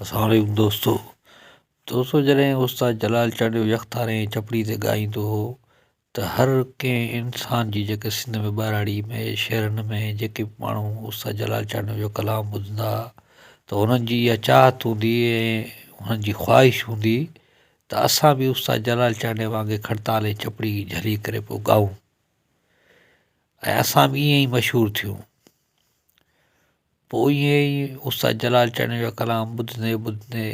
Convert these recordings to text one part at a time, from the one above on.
السلام عليڪم دوستو دوستو جڏهن استاد جلال چانڊيو يڪتارين ۽ چپڙي تي ڳائيندو هو ته هر ڪنهن انسان جي جيڪي سنڌ ۾ ٻهراڙي ۾ شهرن ۾ جيڪي به ماڻهو استاد جلال چانڊيو جو ڪلام ٻڌندا هئا ته انهن جي اها چاهت هوندي هئي ۽ انهن جي خواهش هوندي ته اسان به استاد جلال چانڊيو وانگي کڙتال ۽ چپڙي جهلي ڪري پوء ڳائون ۽ اسان به ائين ئي مشهور ٿيون پوء ائين ئي استاد جلال چنڙيو جا ڪلام ٻڌندي ٻڌندي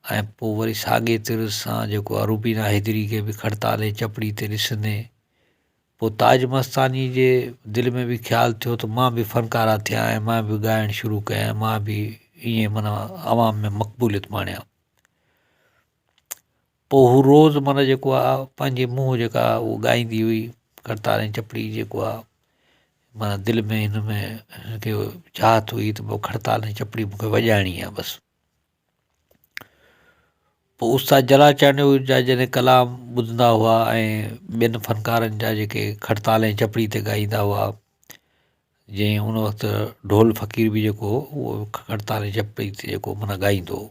۽ پوء وري ساڳئي طر سان جيڪو آ روبينا حيدري کي به کڙتالي چپڙي تي ڏسندي پوء تاج مستاني جي دل ۾ به خيال ٿيو ته مان به فنڪاره ٿيان ۽ مان به ڳائڻ شروع ڪيان مان به ائين مانا عوام ۾ مقبوليت ماڻيان پوء هو روز مره جيڪو آ پنهنجي منهن جيڪا آ اهو ڳائيندي هئي ڪرتار ۽ چپڙي جيڪو آ معنيٰ دل ۾ هن ۾ هن کي چاهت هئي ته پوء کرتار ۽ چپڙي مونکي وڄائڻي آ بس پوء استاد جلا چانڊيو جا جڏهن ڪلام ٻڌندا هئا ۽ ٻين فنڪارن جا جيڪي کرتار ۽ چپڙي تي ڳائيندا هئا جنهن هن وقت ڍول فقير به جيڪو هو کرتار ۽ چپڙي تي جيڪو معنيٰ ڳائيندو هو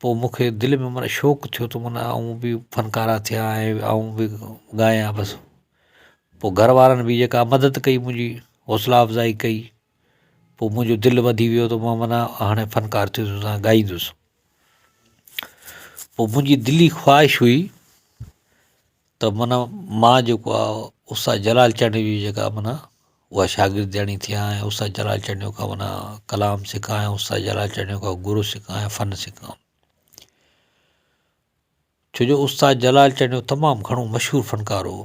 پوء مون کي دل ۾ معنيٰ شوق ٿيو ته معنيٰ آئون به فنڪاره ٿيان ۽ آئون به ڳايان بس پوء گهر وارن بي جيڪا مدد ڪئي منهنجي حوصلا افزائي ڪئي پوء منهنجو دل وڌي ويو ته مون معنيٰ هاڻي فنڪار ٿيندس ۽ ڳائيندس پوء منهنجي دلي خواهش هئي ته معنيٰ مان جيڪو آ استاد جلال چنڙيو جي جيڪا معنيٰ اها شاگردياڻي ٿيان ۽ استاد جلال چنڙيو کان معنيٰ ڪلام سکان ۽ استاد جلال چنڙيو کان گرو سکان ۽ فن سکان ڇو جو استاد جلال چنڙيو تمام گهڻو مشهور فنڪار هو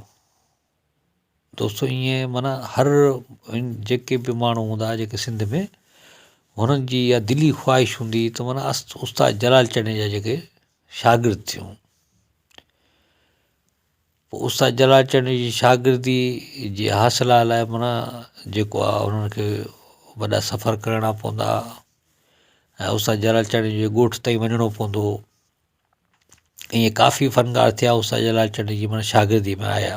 دوستو ائين معنيٰ هر جيڪي به ماڻهو هوندا هئا جيڪي سنڌ ۾ هنن جي اها دلي خواهش هوندي هئي ته معنيٰ استاد جلال چنڙيو جا جيڪي شاگرد ٿيون پوء استاد جلال چنڙي جي شاگردي جي حاصل لاء منا جيڪو آ انهن کي وڏا سفر ڪرڻا پوندا ھا ۽ استاد جلال چنڙي جي ڳوٺ تائين وڃڻو پوندو ھو ائين ڪافي فنڪار ٿيا استاد جلال چنڙي جي منا شاگردي ۾ آيا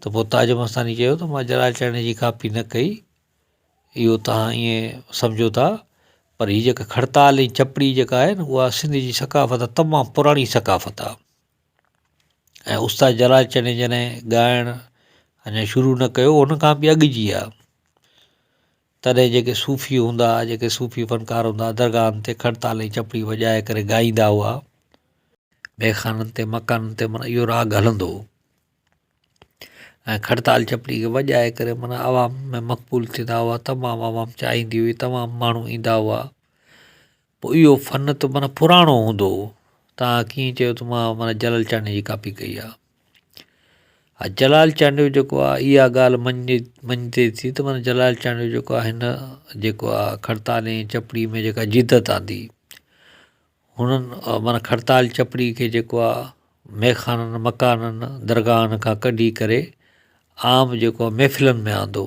ته پوء تاج مستاني چيو ته مان جلال چاڙهڻي جي ڪاپي نه ڪئي اهو تهان ائين سمجهو ٿا پر هي جيڪا کڙتال ۽ چپڙي جيڪا آهي نه اها سنڌ جي ثقافت آهي تمام پراڻي ثقافت آهي ۽ استاد جلال چاڙهڻي جڏهن ڳائڻ اڃا شروع نه ڪيو هو ان کان به اڳ جي آهي تڏهن جيڪي صوفي هوندا، جيڪي صوفي فنڪار هوندا، درگاهن تي کڙ تال ۽ چپڙي وڄائي ڪري ڳائيندا هئا. ميخانن تي مڪانن تي معنيٰ اهو راڳ هلندو هو ۽ کڙ تال چپڙي کي وڄائي ڪري معنيٰ عوام ۾ مقبول ٿيندا هئا، تمام عوام چاهيندي هئي، تمام ماڻهو ايندا هئا. پوء اهو فن ته معنيٰ پراڻو هوندو تان ڪيئن چيو ته مان معنيٰ جلال چانڊيو جي ڪاپي ڪئي آ ها جلال چانڊيو جيڪو آ اها ڳالهه مڃي مڃتي ٿي ته معنيٰ جلال چانڊيو جيڪو آ هن جيڪو آ کڙتال ۽ چپڙي ۾ جيڪا جدت آندي هنن معنيٰ کڙتال چپڙي کي جيڪو آ ميخانن مڪانن درگاهن کان ڪڍي ڪري عام جيڪو آ محفلن ۾ آندو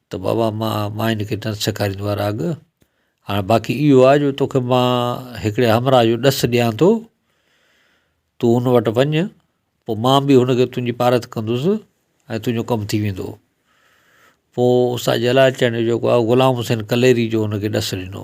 ته بابا مان مان هن کي نه سيکاريندو آهيان راڳ هاڻ باقي اهو آهي جو توکي مان هڪڙي همراهه جو ڏس ڏيان ٿو تون هن وٽ وڃ پوء مان به هن کي تنهنجي پارت ڪندس ۽ تنهنجو ڪم ٿي ويندو پوء استاد جلال چيان جو جيڪو آهي غلام حسين ڪليري جو هن کي ڏس ڏنو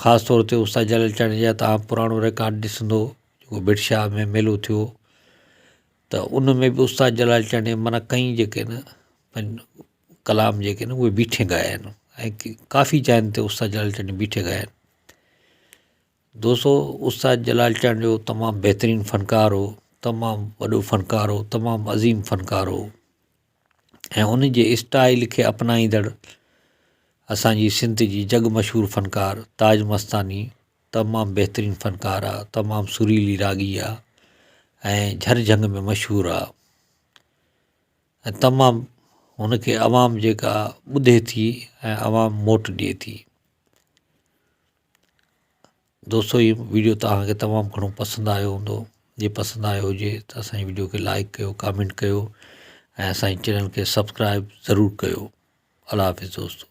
خاص طور تي استاد جلال چاڙهيجي جا تان پراڻو رڪارڊ ڏسندو جيڪو بٺ شاهه ۾ ميلو ٿيو ته ان ۾ بھ استاد جلال چاڙهيجي من ڪئي جيڪي نھ پن ڪلام جيڪي نھ اھي بيٺي ڳايا آھن ۽ ڪافي جاين تي استاد جلال چاڙهيجي بيٺي ڳايا آھن دوستو استاد جلال چاڙهيجو تمام بهترين فنڪار ھو تمام وڏو فنڪار ھو تمام عظيم فنڪار ھو ۽ ان جي اسٽائيل کي اپنائيندڙ اسان جي سنڌ جي جڳ مشهور فنڪار تاج مستاني تمام بهترين فنڪار آ تمام سريلي راڳي آ ۽ جھر جھنگ ۾ مشهور آ ۽ تمام ان کي عوام جيڪا ٻڌي ٿي ۽ عوام موٽ ڏئي ٿي دوستو هي وڊيو توهان کي تمام گهڻو پسند آيو هوندو جي پسند آيو هجي ته اسانجي وڊيو کي لائڪ ڪيو ڪامينٽ ڪيو ۽ اسانجي چينل کي سبسڪرائب ضرور ڪيو الله حافظ دوستو